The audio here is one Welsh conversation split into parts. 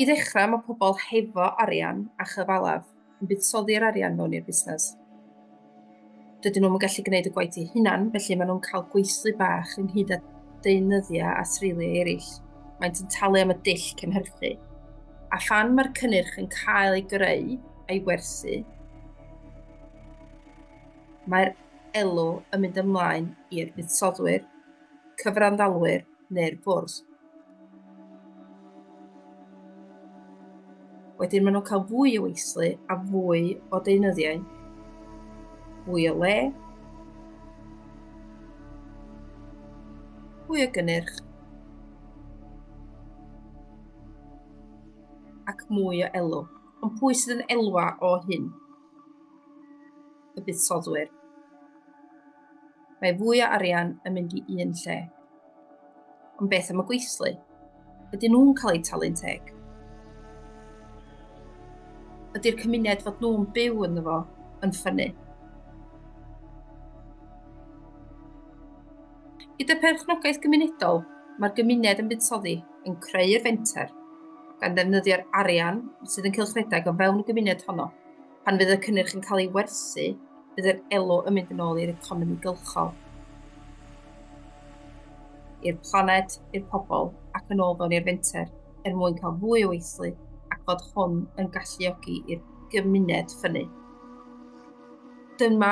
I ddechrau, mae pobl hefo arian a chyfalaf yn buddsoddi'r arian mewn i'r busnes. Dydyn nhw'n gallu gwneud y gwaith eu hunan, felly maen nhw'n cael gweithlu bach ynghyd â deunyddiau a threiliau eraill. Maent yn talu am y dull cynhyrchu. A phan mae'r cynnyrch yn cael ei greu a'i werthu, Mae'r elw yn mynd ymlaen i'r buddsoddwyr, cyfranddalwyr neu'r bwrdd. Wedyn maen nhw'n cael fwy o weithlu a fwy o deunyddiau, fwy o le, fwy o gynnyrch ac mwy o elw. Ond pwy sydd yn elwa o hyn? y buddsoddwyr. Mae fwy o arian yn mynd i un lle. Ond beth am y gweithlu? Ydyn nhw'n cael eu talu'n teg? Ydy'r cymuned fod nhw'n byw ynddo fo yn ffynnu? Gyda pherchnogaeth gymunedol, mae'r gymuned yn buddsoddi yn creu'r fenter, gan ddefnyddio'r arian sydd yn cylchredeg o fewn y gymuned honno. Pan fydd y cynnyrch yn cael ei werthu, bydd yr elw yn mynd yn ôl i'r economi gylchol, i'r planed, i'r pobl ac yn ôl fewn i'r fenter er mwyn cael fwy o weithlu ac fod hwn yn galluogi i'r gymuned ffynnu. Dyma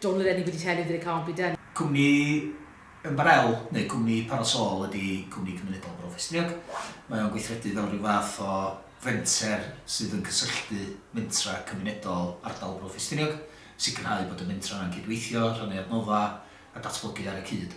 Don't let anybody tell you that it can't be done. Cwmni ymbarel neu cwmni parasol ydy cwmni cymunedol Bro Ffestiniog. Mae o'n gweithredu fel rhyw fath o fenter sydd yn cysylltu mentrau cymunedol ardal Bro Ffestiniog, sicrhau bod y mentrau yna'n cydweithio, rhannu adnoddau a datblygu ar y cyd.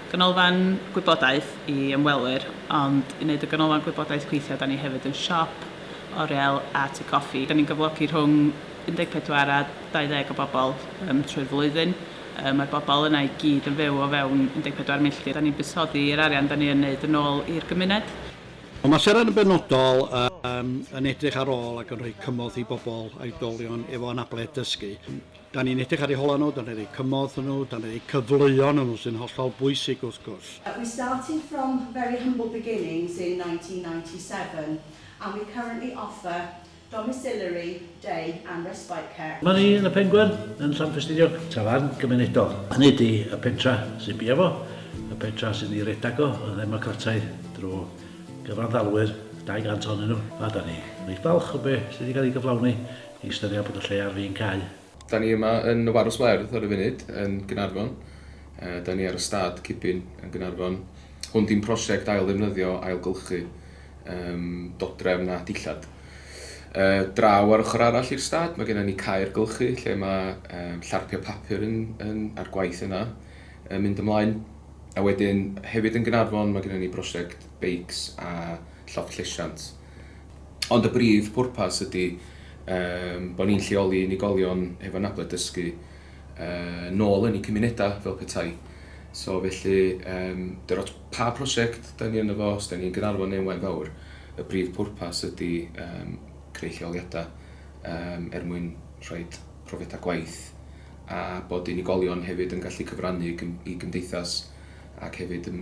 Ganolfan gwybodaeth i ymwelwyr, ond i wneud y ganolfan gwybodaeth gweithio da ni hefyd yn siop, oriel a tŷ coffi. Da ni'n gyflogi rhwng 14 a 20 o bobl yym trwy'r flwyddyn. Yy mae'r bobl yna i gyd yn fyw o fewn 14 milltir. Da ni'n buddsoddi yr arian da ni yn wneud yn ôl i'r gymuned. Mae Maseran yn benodol yn yn edrych ar ôl ac yn rhoi cymorth i bobl a oedolion efo anabledd dysgu. Da ni'n edrych ar eu holau nhw, da ni'n rhoi cymorth iddyn nhw, da ni'n rhoi cyfleon iddyn nhw sy'n hollol bwysig wrth gwrs. We started from very humble beginnings in 1997 and we currently offer domiciliary, day and respite care. Yma ni yn y Pengwern yn Llanfestiniog, tafarn gymunedol. Hynny ydi y pentra sy'n bia fo, y pentra sydd i redag o, y ddemocrataidd drwy gyfanddalwyr, 200 ohonyn nhw, a da ni reit falch o be sydd wedi cael ei gyflawni i ystyried bod y lle ar fin cau. Da ni yma yn y Warws Werdd ar y funud yn Gaernarfon. Da ni ar y stad Cipin yn Gaernarfon. Hwn di'n prosiect ail ddefnyddio, ailgylchu um, dodrefn a dillad. Uh, draw ar ochr arall i'r stad mae gennym ni caer gylchu lle mae um, llarpiau papur yn, yn, a'r gwaith yna yn mynd ymlaen. A wedyn hefyd yn Gaernarfon mae gennym ni brosiect beics a llofft llesiant. Ond y brif bwrpas ydy yym bod ni'n lleoli unigolion hefo anabledd dysgu yy nôl yn eu cymunedau fel petai. So felly yym dim ots pa prosiect 'da ni ynddo fo, os 'da ni'n Gaernarfon neu Waun Fawr, y brif bwrpas ydy yym creu lleoliadau yym er mwyn rhoid profiadau gwaith a bod unigolion hefyd yn gallu cyfrannu i gymdeithas ac hefyd yn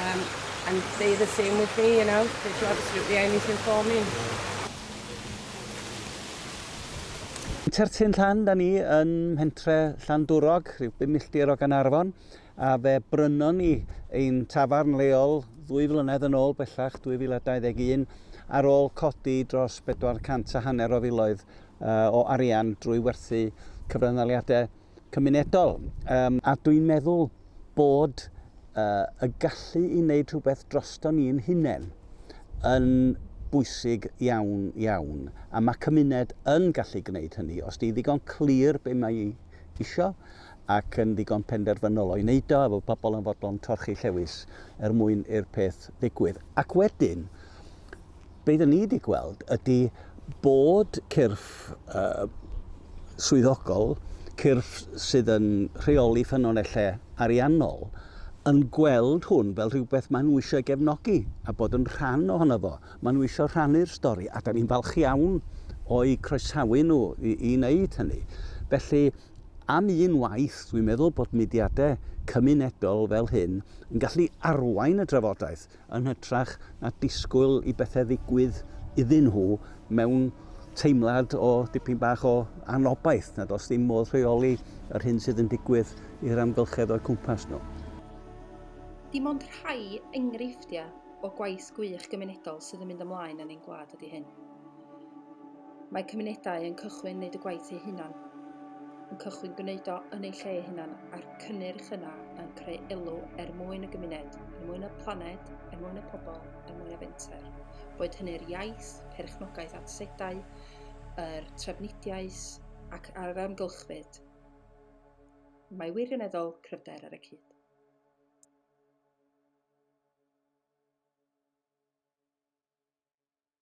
um, and they the same with me, you know, they do absolutely anything for me. Tertyn Llan, da ni yn mhentre Llandwrog, rhyw 5 milltir o Ganarfon, a fe brynon ni ein tafarn leol ddwy flynedd yn ôl bellach, 2021, ar ôl codi dros 400 a hanner o filoedd uh, o arian drwy werthu cyfranddaliadau cymunedol. A dwi'n meddwl bod y gallu i wneud rhywbeth drosto ni'n hunain yn bwysig iawn, iawn. A mae cymuned yn gallu gwneud hynny. Os di'n ddigon clir be mae i isio ac yn ddigon penderfynol o'i wneud o, efo pobl yn fodlon torchi llewys er mwyn i'r peth ddigwydd. Ac wedyn, be dyn ni wedi gweld ydy bod cyrff uh, swyddogol, cyrff sydd yn rheoli ffynonellau ariannol, yn gweld hwn fel rhywbeth maen nhw eisiau gefnogi a bod yn rhan ohono fo. Maen nhw eisiau rhannu'r stori a da ni'n falch iawn o'i croesawu nhw i, i wneud hynny. Felly, am un waith, dwi'n meddwl bod mudiadau cymunedol fel hyn yn gallu arwain y drafodaeth yn hytrach na disgwyl i bethau ddigwydd iddyn nhw mewn teimlad o dipyn bach o anobaith nad oes dim modd rheoli yr hyn sydd yn digwydd i'r amgylchedd o'u cwmpas nhw. Dim ond rhai enghreifftiau o gwaith gwych gymunedol sydd yn mynd ymlaen yn ein gwlad ydy hyn. Mae cymunedau yn cychwyn wneud y gwaith eu hunan, yn cychwyn gwneud o yn eu lle eu hunan, a'r cynnyrch yna yn creu elw er mwyn y gymuned, er mwyn y planed, er mwyn y pobl, er mwyn y fenter. Boed hynny'r iaith, perchnogaeth at sedau, yr trafnidiaeth ac ar amgylchfyd. Mae wirioneddol cryfder ar y cyd.